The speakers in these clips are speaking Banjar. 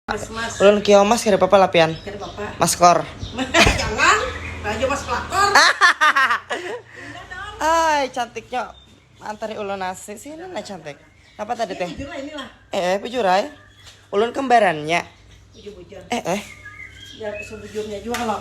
Mas, mas. Ulun kio mas kada apa-apa lah pian. Kada apa-apa. Mas kor. Jangan, raja mas pelakor. Ay, cantiknya antari ulun nasi sih ini nah cantik. Apa tadi teh? Bujur lah inilah. Eh, eh bujur ay. Ulun kembarannya. Bujur-bujur. Eh, eh. Ya sebujurnya juga loh.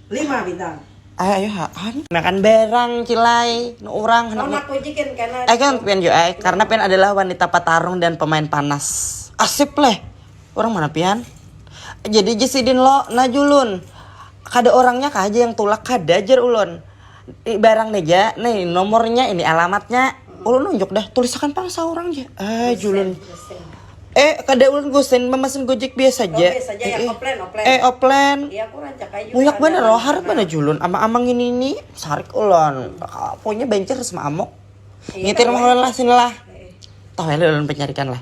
lima bintang. Ay ayo ha an. Makan barang cilai nu urang hendak. Anak kunci kan karena. Ay kan pian jo ay karena pian adalah wanita patarung dan pemain panas. Asip leh. Urang mana pian? Jadi ja sidin lo, nah julun. Kada orangnya kah aja yang tulak kada jar ulun. Ni barang nih ja, nih nomornya ini alamatnya. Ulun nunjuk dah, tulisakan pang saurang ja. Ah, julun. Eh, kada ulun gusin, mamasin gojek biasa oh, ja. Oh, eh, eh. eh, oplen. Iya, aku rancak aja. Muyak banar loh, harap banar julun. Ama-amang ini ini, sarik ulun. Pokoknya banjir sama amok. Iya, Ngitir mah ulun lah, sini lah. Iya. Tahu ya ulun pencarikan lah.